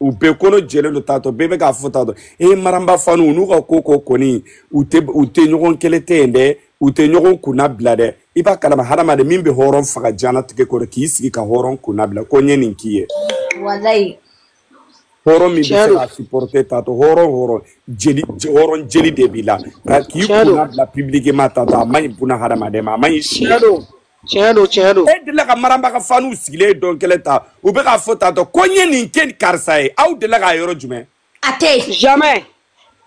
u bɛɛ kɔnɔ jɛlen don taatɔ bɛɛ bɛ k'a fɔ taatɔ e eh, maramba fanu n'u ka ko ko kɔni u tɛ u tɛ ɲɔgɔn kɛlɛ ten dɛ u tɛ ɲɔgɔn kunna bila dɛ i b'a kalama hadamaden min bɛ hɔrɔn faga diɲɛnatigɛ kɔrɔ k'i sigi ka hɔrɔn kunna bila ko n ye nin k'i ye walayi hɔrɔn min bɛ se ka supporter taatɔ hɔrɔn hɔrɔn jeli hɔrɔn jeli de b'i la ka k'i kunna bila publiquement taatɔ a man ɲi buna hadamaden ma a man ɲi si tiɲɛ don tiɲɛ don e delila ka maramba ka faniw sigilen ye don kelen ta u bɛ k'a fɔ tantɔ ko n ye nin kɛ karisa ye aw delila k'a yɔrɔ jumɛn a tɛ jamais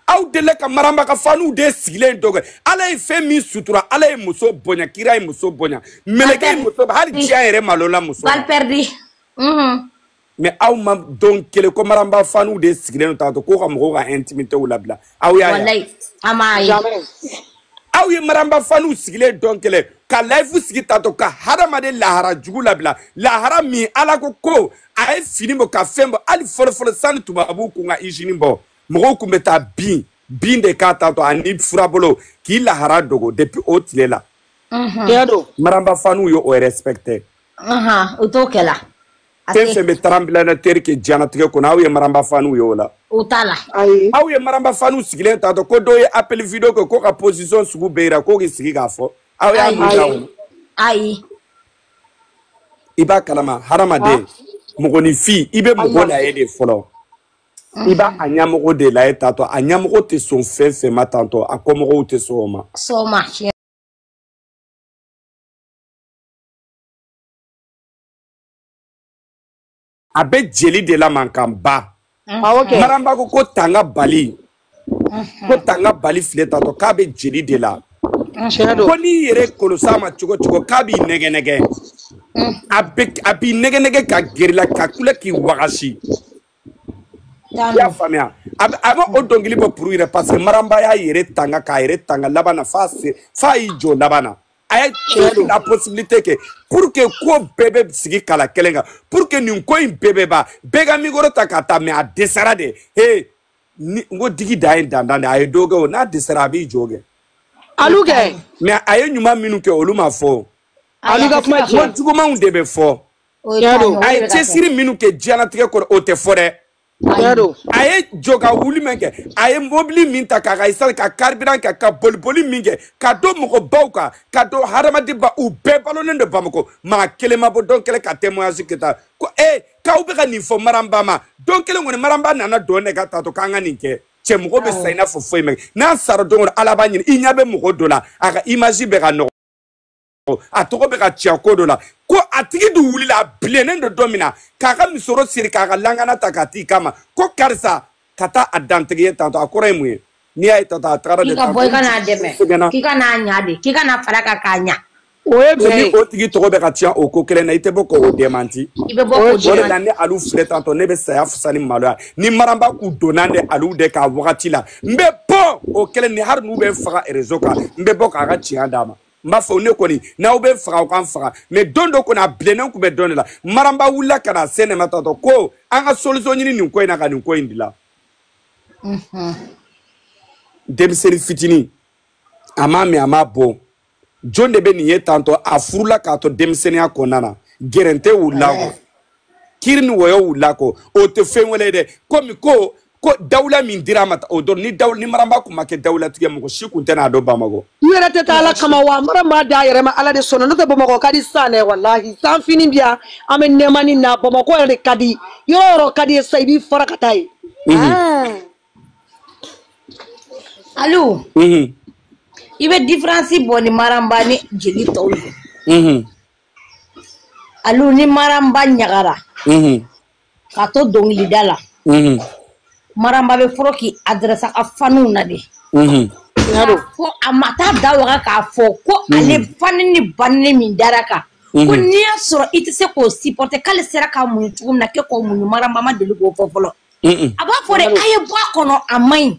aw delila ka maramba ka faniw de sigilen ye don kelen ala ye fɛn min sutura ala ye muso bonya kira ye muso bonya mɛlɛkɛ ye muso hali diya yɛrɛ malola muso balle perdue mais aw ma don kelen ko maramba faniw de sigilen don tantɔ ko ka mɔgɔw ka intimitéw labila aw y'a ye an m'a ye aw ye maramba faniw sigilen don kelen ka layifu sigi tantɔ ka hadamaden lahara jugu labila lahara min ala ko ko a ye fini bɔ ka fɛn bɔ hali fɔlɔfɔlɔ sani tubabuw kun ka izini bɔ mɔgɔw kun bɛ taa bin bin de kan tantɔ ani furabolo k'i lahara dogo depuis o tile la maramba faniw ye o respecter u t'o kɛla fɛn fɛn bɛ tremblement de terre kɛ diɲɛnatigɛ kɔnɔ aw ye maranba faniw ye o la u t'a la ayi aw ye maranba faniw sigilen tantɔ ko dɔ ye appel vidéo kɛ ko ka position sugu bɛɛ yira ko k'i sigi k'a fɔ aw y'a Ayi. mun da o la ayi i b'a kalama hadamaden mɔgɔninfin i bɛ mɔgɔ lajɛ de fɔlɔ i b'a a ɲɛmɔgɔ de lajɛ tantɔ a ɲɛmɔgɔ tɛ sɔn fɛn fɛn ma tantɔ a kɔmɔgɔw tɛ sɔn o ma sɔn o ma tiɲɛ a bɛ jeli de la mankanba maramba ko ko tanga bali ko tanga bali filɛ tatɔ k'a bɛ jeli de la ko n'i yɛrɛ kɔlɔs'a ma cogo cogo k'a b'i nɛgɛ nɛgɛ a b'i nɛgɛ nɛgɛ ka gɛr'i la ka kule k'i wagasi i y'a faamuya a bɛ o dɔnkili bɔ pour yɛrɛ parce que maramba y'a yɛrɛ tanga k'a yɛrɛ tanga laban na f'a y'i jɔ laban na a ye la possibilité kɛ pour que ko bɛɛ bɛ sigi kala kelen kan pour que nin ko in bɛɛ bɛ ban bɛɛ ka mikoro ta ka taa mais a dɛsɛra de he ni n ko digi dan ye dandan de a ye dɔ kɛ o n'a dɛsɛra a b'i jɔ kɛ alu kɛ mais a ye ɲuman minnu kɛ olu ma fɔ alu ka kuma tiɲɛ ko jugumanw de bɛ fɔ a ye cɛsiri minnu kɛ diɲɛlatigɛ kɔrɔ o tɛ fɔ dɛ a ye jɔ ka wuli min kɛ a ye mobili min ta k'a ka esansi ka carburant kɛ ka boliboli min kɛ ka don mɔgɔbaw kan ka don hadamadenba u bɛɛ balonen don bamako maa kelen ma bɔ don kelen ka témoignage kɛ ta ko e k'aw bɛ ka nin fɔ maranba ma don kelen kɔni maranba nana don ne kan tatɔ k'an ka nin kɛ cɛ mɔgɔ bɛ sa i n'a fɔ foyi ma kɛ n'a sara o don ko ala b'a ɲini i ɲɛ bɛ mɔgɔ dɔ la a ka image bɛ ka nɔgɔ a tɔgɔ bɛ ka tiɲɛ ko dɔ la ko a tigi dun wulila a bilennen don don min na k'a ka misoro siri k'a ka lankana ta k'a t'i kama ko karisa ka taa a dantigɛ ye tantɔ a kɔrɔ ye mun ye n'i y'a ye tantɔ a tagara de tantɔ bɔ i ka n'a dɛmɛ k'i ka n'a ɲa de k'i ka na fara a kan k'a ɲa o ye bɛn ye o tigi tɔgɔ bɛ ka tiɲɛ o ko kelen na i tɛ bɔ k'o demanti i bɛ bɔ k'o demanti o de la ne alu filɛ tantɔ ne bɛ saya fisa ni maloya ni maramba kun dɔnna de alu de ka wagati la n bɛ bɔ o kelen ni hali n'u bɛ n faga rezo kan n bɛ bɔ k'a ka tiɲɛ d'a ma n b'a fɔ ne kɔni n'aw bɛ n faga aw ka n faga mais don dɔ kɔni a bilennen kun bɛ dɔn de la maramba wulila ka na se ne ma tantɔ ko an ka solisɔn ɲini nin ko in na ka nin ko in dilan denmisɛnnin fitinin a m'a mɛn a m'a bɔ jɔn de bɛ nin ye tantɔ a furula k'a to denmisɛnninya kɔnɔna na gɛrɛntɛ wulila kɔ kiri ni wɔyɔ wulila kɔ o tɛ fɛn wɛrɛ ye dɛ komi ko ko dawula min dira a ma o don ni dawula ni maramba kun ma kɛ dawulatigi mɔgɔ si kun tɛn'a dɔn bamakɔ i yɛrɛ tɛ taa ala kama wa maramba d'a yɛrɛ ma ala de sɔnna n'o tɛ bamakɔ ka di san dɛ walahi san finnen bi yan an bɛ nɛɛmanin na bamakɔ yɛrɛ de ka di yɔrɔ o yɔrɔ ka di i ye sa i b'i fara ka taa yen alu i bɛ diferansi bɔ ni maramba ni jeli tɔw ye alu ni maramba ɲagara k'a to dɔnkilida la mhm. maramba bɛ fɔlɔ k'i adrɛsa a faniw na de mhm. fɔ a ma taa a da waga k'a fɔ ko mhm. ale fanɛni banɛni min dara a kan ko n'i y'a sɔrɔ i tɛ se k'o sipɔrite k'ale sera k'a muɲu cogo min na k'e k'o muɲu maramba ma deli k'o fɔ fɔlɔ a b'a fɔ de a ye bɔ a kɔnɔ a man ɲi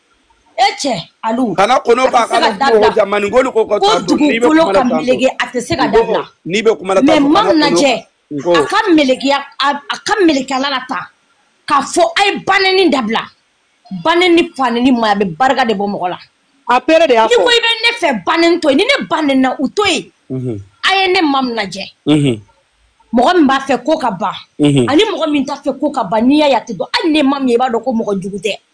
e cɛ alu kana kono k'a ka ko ja maninko ni ko ka taa dɔn n'i bɛ kuma la tan mɛlɛkɛ a tɛ se ka dabila n'i bɛ kuma la tan mais mam lajɛ a ka mɛlɛkɛya a ka mɛlɛkɛya la tan k'a fɔ a ye banɛni dabila banɛni fanɛni man ɲi a bɛ barika de bɔ mɔgɔ la a pere de y'a fɔ n'i ko i bɛ ne fɛ banɛni to yen ni ne banɛna u to yen mhm. a ye ne mam lajɛ mhm. mɔgɔ min b'a fɛ ko ka ban mhm. ani mɔgɔ min t'a fɛ ko ka ban n'i y'a ye a tɛ dɔn hali ne mam ye i b'a dɔn ko mɔgɔ jugu tɛ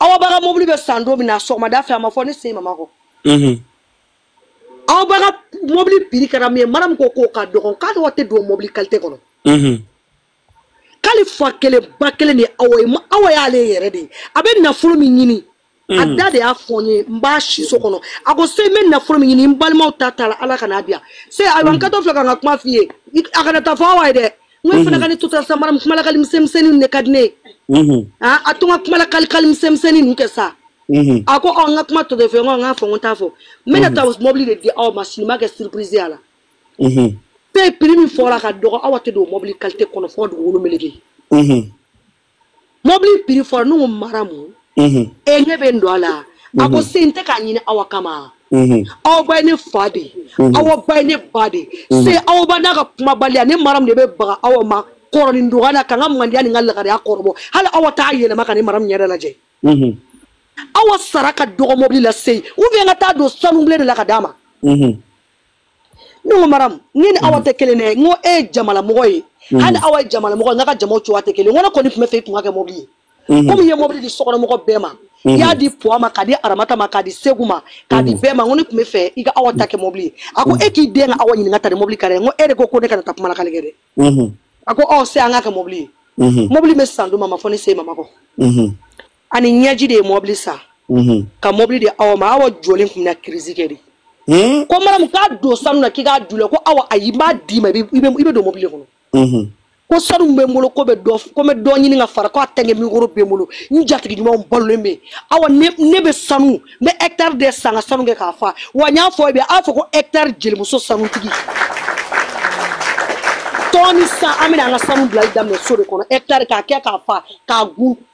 awaba ka mobili bɛ san don min na sɔgɔmada fɛ a ma fɔ ne sen mama kɔ mhm. awaba ka mobili piri kɛra min ye maramu ko k'o ka dɔgɔn k'a dɔgɔ awa tɛ don mobili kalite kɔnɔ mhm. k'ale fa kelen ba kelen de awa ye awa y'ale yɛrɛ de ye a bɛ nafolo min ɲini a mhm. da de y'a fɔ n ye n b'a siso kɔnɔ a ko se n bɛ nafolo min ɲini n balimaw ta t'a la ala kana a diya se ayiwa n kɛtɔ filɛ ka n ka kuma f'i ye a kana taa a fɔ awa ye dɛ n ko e fana ka ne to tan sa maramu kumalakali misɛnmisɛnni ninnu de ka di ne ye a to n ka kumalakalikali misɛnmisɛnni ninnu kɛ sa a ko ɔ n ka kuma tɔ de fɛ n ko n k'a fɔ n ko n t'a fɔ n bɛna taa mɔbili de di awa ma sini n b'a kɛ surprise y'a la pe piri min fɔra ka dɔgɔ awa tɛ don mɔbili kalite kɔnɔ fɔ dugukolo mɛlɛkɛ mɔbili piri fɔra ne ko maramu e ne bɛ n don a la a ko se n tɛ k'a ɲini awa kama awa ba ye ne fa de awa ba ye ne ba de se awa ba n'a ka kumabaliya ne maramu de bɛ baga awa ma kɔrɔnin dɔgɔya la ka n ka mandiya ni n ka lagariya kɔrɔbɔ hali awa t'a yɛlɛma ka ne maramu yɛrɛ lajɛ awa sara ka dɔgɔ mɔbili la se ou bien ka taa don sanubilen de la k'a d'a ma ne ko maramu ne ni awa tɛ kelen dɛ n ko e ye jamalamɔgɔ ye hali awa ye jamalamɔgɔ ye nka jamaw cogoya tɛ kelen n ko ne kɔni tun b'a fɛ i tun k'a kɛ mɔbili ye komi i ye mɔbili di sokɔnɔmɔgɔ bɛɛ ma i y'a di puwa ma k'a di aramata ma k'a di seku ma k'a di bɛɛ ma n ko ne tun b'a fɛ i ka awa ta kɛ mɔbili ye a ko e k'i den ka awa ɲininka ta ni mɔbili ka dɛ n ko e de ko ko ne kana taa kuma lakali kɛ dɛ a ko ɔ se an k'a kɛ mɔbili ye mɔbili bɛ san duma ma fɔ ne se mama kɔ ani ɲɛji de ye mɔbili san mhm. ka mɔbili di awa ma awa jɔlen tun na kirisi kɛ de hmm? ko maramu k'a don sanu na k'i k'a dulɛ ko awa ayi n b'a d'i ma i bɛ don mɔbili kɔnɔ mhm. ko sanu bɛ n bolo ko bɛ dɔ ko bɛ dɔ ɲini ka fara ko a tɛnkɛ mikoro bɛ n bolo n jatigi ɲumanw balolen bɛ aw ne bɛ sanu n bɛ hɛkitari de san ka sanu kɛ k'a fa wa n y'a fɔ e b'a fɔ ko hɛkitari jelimuso sanutigi tɔn ni san an bɛna an ka sanu bilali daminɛ so de kɔnɔ hɛkitari k'a kɛ k'a fa k'a gun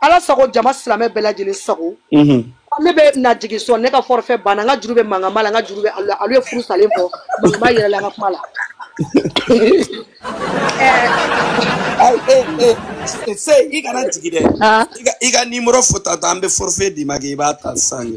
ala sago jama silamɛ bɛɛ lajɛlen sago ne bɛ na jigin sɔn ne ka forfait banna n ka juru bɛ mankama la n ka juru bɛ alu alu ye furu salen fɔ mankama yɛrɛ la n ka kuma la se i kana jigin dɛ i ka nimoro fɔ ta ta an bɛ forfait d'i ma kɛ i b'a ta sisan